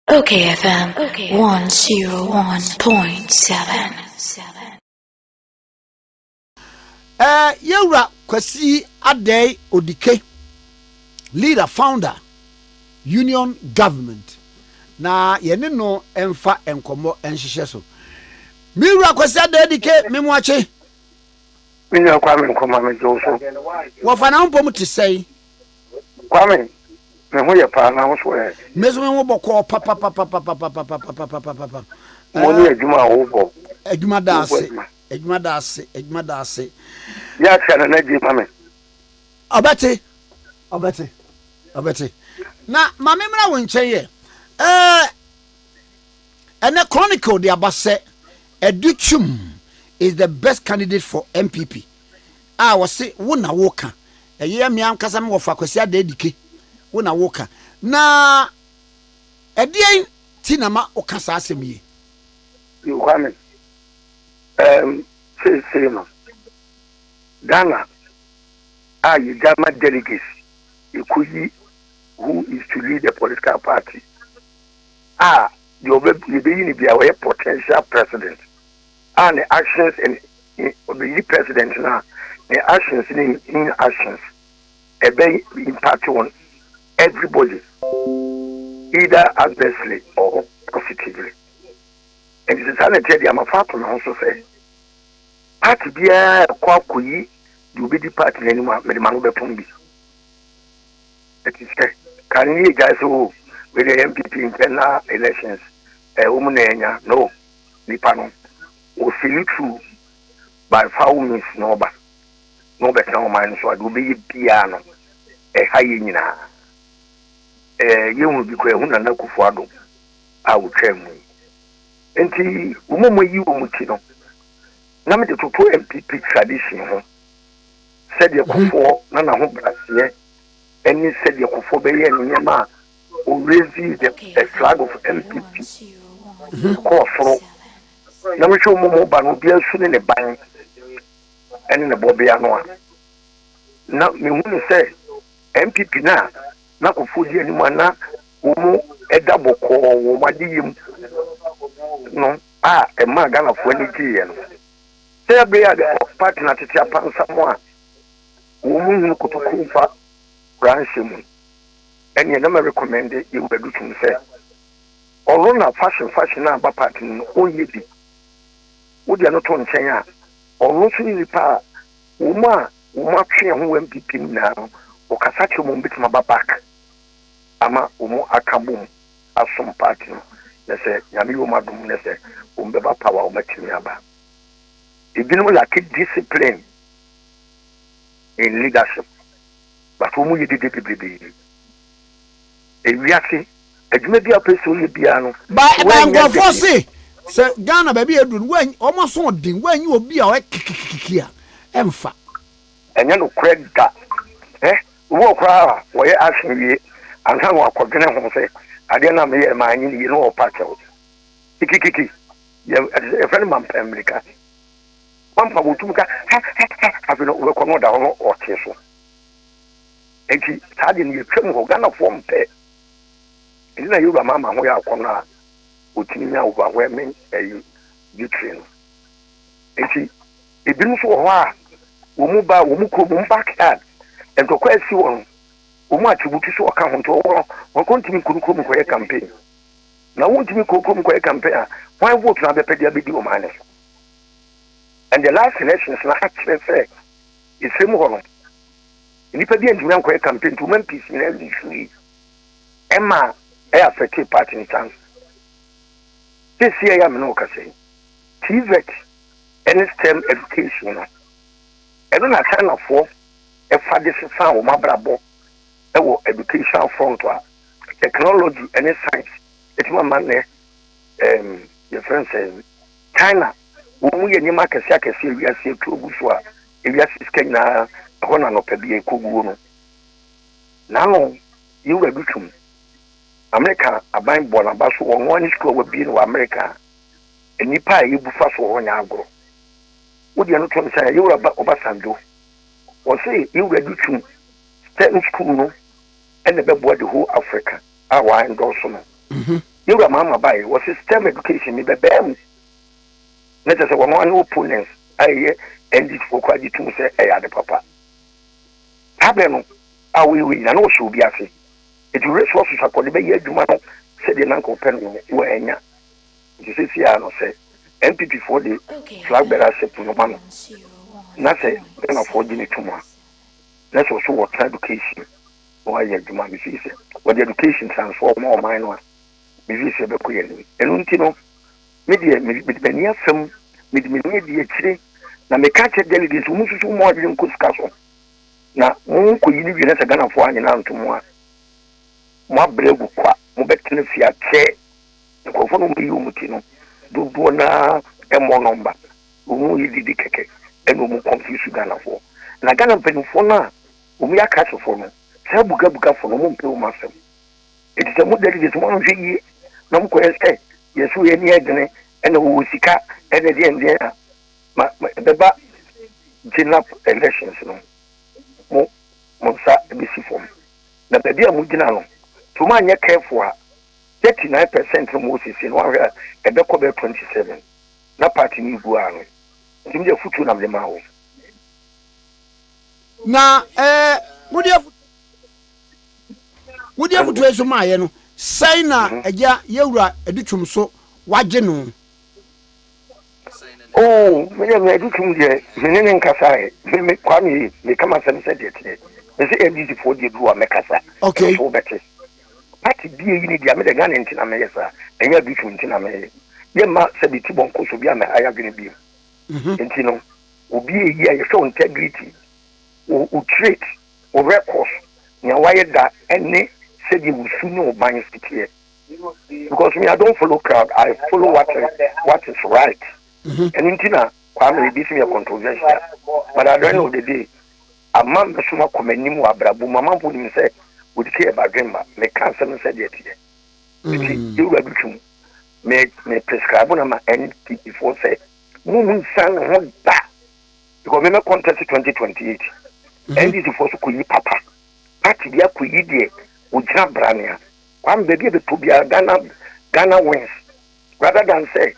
Okay FM 101.7 Eh, yɛwura kwasi adɛe odike leader founder union government na yɛne no mfa nkɔmmɔ nhyehyɛ so me wura kwasi adɛe odike me mo akye me nua kwa me nkɔma me gye wo so wɔfa na wompɔ mu te sɛe Kwame, me ho yɛ paa na wo so ɛ? Me so me ho bɔkɔɔ papapapapapapapapapapapapa. Mo ne adwuma a wobɔ. Adwuma da ase, adwuma da ase, adwuma da ase. Yɛ akyɛ no na gye ma me. Ɔbɛte, ɔbɛte, ɔbɛte. Na ma me mmra wo nkyɛn yɛ. Ɛɛ, ɛnɛ Chronicle de aba sɛ Adu Twum is the best candidate for NPP. a wɔse wo na woka, ɛyɛ me ankasa me wɔfa Kwasi Adadike, wo na woka, na ɛdeɛn ti na ma woka saa asɛm yi? Nkwame, ɛɛm seesei no Ghana a yɛgya ma delegates yɛkɔyi who is to lead the political party a deɛ ɔbɛ yɛbɛyi no biara ɔyɛ potential president. a ne actions and ne obeyi president no a ne actions ne in actions ɛbɛ impact on everybody either adversely or positively ɛnti sɛ saa na ɛteɛ deɛ amafa ato ne ho so sɛ party biara ɛkɔ akɔyi deɛ obɛdi party no anim a mede ma no bɛpom bi ɛti sɛ ka ne yɛ gyae sɛ o oh, wei deɛ yɛ mpp mpɛ na elections ɛwɔ eh, mu na ɛnya no nipa no ɔsi ne true by foul means na ɔba na ɔbɛtena ɔman no so a deɛ ɔbɛyɛ biara no ɛha yɛn nyinaa ɛɛ yɛhunu bi koraa ɛho Nana Akufo Addo a ɔtwaa mu yi nti wɔn a wɔayi wɔn ti no na mede toto NPP tradition ho sɛdeɛ mhm. Kufoɔ na n'ahobraseɛ ɛne sɛdeɛ Kufoɔ bɛyɛ nneɛma a Ɔrezi the flag of NPP mekɔɔ soro na mehwɛ ɔmo mu ba no obiara su ne ne ban ɛne ne bɔbea no a na mehu no sɛ NPP no a na kɔfoɔ di anim a na wɔn ɛda bɔkɔɔ wɔn adeyɛ mu no a ɛmaa Ghanafoɔ ani gyeeɛ no sɛ ɛbɛyɛ a de party no atete apansam a wɔn hunu kotokuo fa branhyɛ mu. Ɛneɛ na mɛ rekɔmɛnde Ewuradu Tum sɛ ɔro na fashion fashion a aba part no no ɔnyɛ bi. Wo deɛ no to nkyɛn a, ɔro nso ne nipa a wɔn a wɔn atwe ɛho wɔ NPP mu nyinaa no ɔkasa kyerɛ wɔn a wɔn bɛtumi aba back ama wɔn aka bom asom part no na sɛ Nyame yɛ wɔn adom na sɛ wɔn bɛba power a wɔn atumi aba. Ebinom lacke discipline in leadership. but wɔn yɛ dede bebrebe. Ewiase adwuma bi a ɔpɛ sɛ ɔyɛ biara no. Ba ba nkurɔfoɔ se sɛ Ghana baabi a eduru no wɔn wɔn asoɔden wɔn anyi obi a ɔyɛ kikikikiki a ɛnfa. Ɛnyɛ nokorɛ da ɛ obi wɔ koraa a wɔyɛ action wie ansa na wakɔdwene ho sɛ adeɛ no a meyɛ maa anyi ne yie na ɔpa kyɛw kikikiki yɛ ɛfɛ no mampɛ mmirika. Wampa wɔn tumi ka hɛ hɛ hɛ afei no wobɛkɔ na ɔda hɔ no ɔte so nti saa de no yɛtwam hɔ Ghanafoɔ mpɛ ɛnti na yɛwura ma ama ho yɛ akɔ no a ɔtumi nya overwhelming ɛyi victory no nti ebinom nso wɔ hɔ a wɔn mu ba wɔn mu kurom wɔn backyard ntɔkwa asi wɔn wɔn mu atiributi so ɔka ho nti wɔwɔ no wɔn kɔ ntumi nkɔ no kurom nkɔyɛ campaign na wɔn ntumi nkɔ kurom nkɔyɛ campaign a wɔn vote na abɛpɛ de abɛdi wɔn ane so And the last elections no akyerɛ sɛ Esrem hɔ no nnipa bi antumi ankɔyɛ campaign nti wɔn MPs nyinaa lifiri ɛma ɛyɛ affected party ne chance sisi ɛyɛ amena ɔkasa yi TVET ɛne STEM education no ɛno na Chinafoɔ ɛfa de sesa wɔn abrabɔ ɛwɔ educational front a technology ɛne science ɛtumi ama nnɛ ɛɛm yɛfrɛ nsɛn China, wɔn mu yɛ nneɛma akɛse akɛse a wiase atuo gu so a wiase sika nyinaa ɛhɔ na anɔpa bi ɛkɔ guo no. N'ano yɛ wura du twum. Amerika aban bɔ n'aba so wɔ ɔno ara ne sukuu a wabie no wɔ Amerika a nnipa a ɛyɛ bu fa so wɔ hɔ nyɛ agorɔ. Wodeɛ no to nsa yɛ yɛwura ba Obasanjo. Wɔse yɛwura du twum sɛ ne sukuu no ɛna ɛbɛboa the whole Africa. a wa ndɔɔso no ne wura maama bae wɔ se stem education ne bɛbɛɛ mu na kyɛ sɛ wɔn ane opponents a ɛyɛ ndc foɔ kora gye tum sɛ ɛyɛ ade papa habɛ no a woyɛ wei nyina na wɔhyɛ obi ase eti resources akɔ de bɛyɛ adwuma no sɛdeɛ na nka ɔpɛ no wɔ anya nti sɛ si a no sɛ npp foɔ de flag bearer ship no ma no na sɛ Ghana foɔ gye ne tum a na sɛ ɔso wɔ tra education na wayɛ adwuma a mefii sɛ wɔde education transform ma ɔman no a mefii sɛ ɛbɛkɔ yɛn anim. Ɛno nti no, me deɛ me mede m'ani afa mu, mede m'ani adi akyire na meka kyerɛ delegates wɔn nsusu wɔn adwene nkɔ sika so na monkɔyi no wie na sɛ Ghanafoɔ anyina anto mo a moabrɛ agu kwa, mobɛtena fie akyɛ nkurɔfoɔ no wɔyi wɔn ti no dodoɔ no ara mmɔ nɔmba wɔn yɛ didi kɛkɛ ɛna wɔn confuse Ghanafoɔ na Ghana mpanimfoɔ no a Wɔn yɛ Akristofoɔ no, saa abugabugafoɔ no, wɔmpɛ wɔn asɛm. Enti sɛ moda adi sɛ moanhwɛ yie na mokɔyɛ sɛ yɛn so yɛn ani yɛ dene na wɔwɔ sika ne deɛndeɛn a, ma ɛbɛba Genap elections no, mo, mo nsa bɛsi fam. Na baabi a mogyina no, sɛ moanyɛ careful a, 39 percent no mowɔ seesei no, woanhwɛ a, ɛbɛkɔ bɛyɛ 27 na party no regu ara no. Nti medeɛ afotuo na mede ma wɔn. Na ɛɛ wode afu wode afutuo nso maayɛ no sɛn na mhm. agya yɛwura adi twom so wagye no oo meyɛ me adi twom deɛ mene ne nkasaɛ me kwa me meka masɛm sɛ deɛ teɛ ɛsɛ ndcfoɔ deɛ bi wɔ mɛkasa ɛso wobɛte pati bie yi ne deɛ medɛ nya ne ntena meyɛ saa ɛnyɛ adi twom ntena meyɛ yɛma sɛ bɛti bɔnkɔ so bi a mɛha yɛ adwene bio mhm. nti no Obi a eyi a yɛfrɛ wo integrity, wo wo trait, wo records, nea wayɛ da ɛne sɛdeɛ wo su ne wo ban si teɛ. Because me I don't follow crowd, I follow what what is right. Mm-hmm. Ɛno nti na Kwame ebi si mi yɛ controversial, but at the end of the day, ama mi so ma kɔ m'anim wɔ abrabɔ mu, ama mpo nim sɛ wɔde kɛ ɛba dwemba, meka nsɛm sɛ deɛ teɛ. Nti, mm. yɛwura bi twum, me me prescribe na ma NPP foɔ sɛ Mo mu nsan ne ho da because meme contest twenty twenty eight. NDC mhm. foɔ so kɔyi papa party bi akɔyi deɛ ɔgyina branea kwame baabi a bɛtɔ biara Ghana Ghana wins rather than sɛ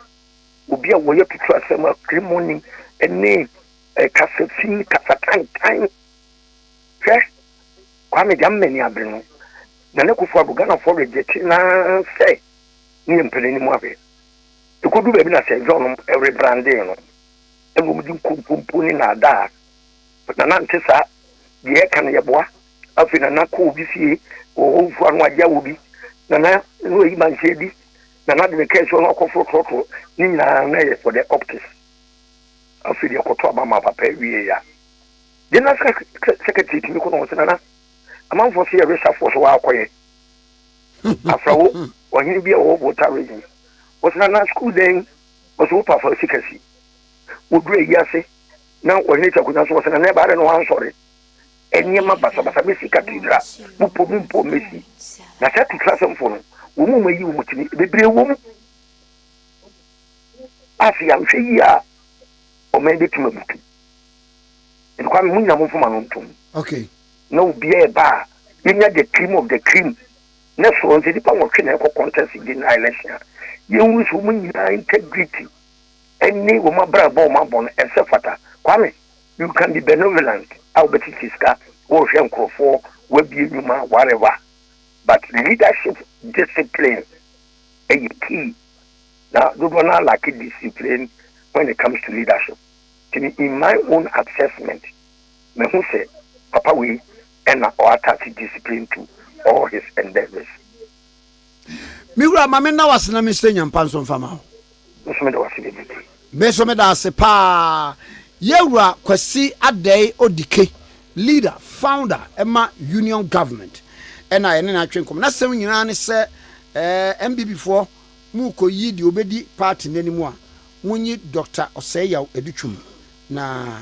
obi a wɔyɛ tutu asɛm a kremoni ne eh, kasafi kasatantan hwɛ kwame deɛ mmani abere no na ne kofo ado Ghanafoɔ regyɛkye naa sɛ ne yɛ mpɛrɛ anim ahwɛ Ɛkɔduru baabi na sɛ John were brandee no, ɛna wɔde nkontompo ne naadaa na na nte saa, deɛ ɛka no yɛboa. Afei na na kɔ obi fie wɔ hɔ mfua no agye awɔ bi, na na na wayi mankyɛ adi, na na de ne kɛse no akɔforo trɔtrɔ ne nyinaa na ɛyɛ for the optics. Afei deɛ kɔtɔ aba ma papa wie ya. General Secretary tumi kɔ na wɔn sɛ nana amanfoɔ so yɛ resafoɔ so wɔakɔyɛ. Afrawo, ɔhene bi a ɔwɔ Volta Region. Ɔsena na sukuu dan wɔ so wopa fa sika si. Wɔduru ayi ase na ɔhene te akonnwa so ɔsena na ɛbaa dɛ na wansɔre. Nneɛma basabasa bɛsi katidra mu po mu mpo mmɛsi. Na saa atutrasɛmfoɔ no, wɔn mu wɔayi wɔn tumi. Bebree wɔ mu a sɛ yɛanhwɛ yie a ɔman bɛtumi abutu. Nti Kwame, mo nyinaa momfa mo ano ntom. Okay. na obiara ɛba a yɛnya the cream of the cream ne soɔ nti nipa nwɔtwe na ɛkɔ contest general election a yɛnhunu sɛ wɔn nyinaa integrity ɛne wɔn abrabɔ wɔn abɔ no ɛsɛ fata kwame you can be benevolent a wɔbɛtete sika wɔrehwɛ nkurɔfoɔ wɔabie nnwuma whatever but leadership discipline ɛyɛ key na dodoɔ no alake discipline when it comes to leadership in my own assessment Mehu sɛ papa wei na ɔ attach discipline to all his endeavours. Me wura ma me nna wo ase na me nsrɛ nyampa nso nfa ma wo. Me nso meda wo ase bebrebe. Me nso meda ase paa yɛwura Kwasi Adɛe Odike leader founder ɛma Union government ɛna yɛne no atwe nkɔmɔ nasɛm nyinaa ne sɛ ɛɛ NBB foɔ mu kɔ yi deɛ obedi party no anim a monyi Doctor Osei Yaw Adutwum na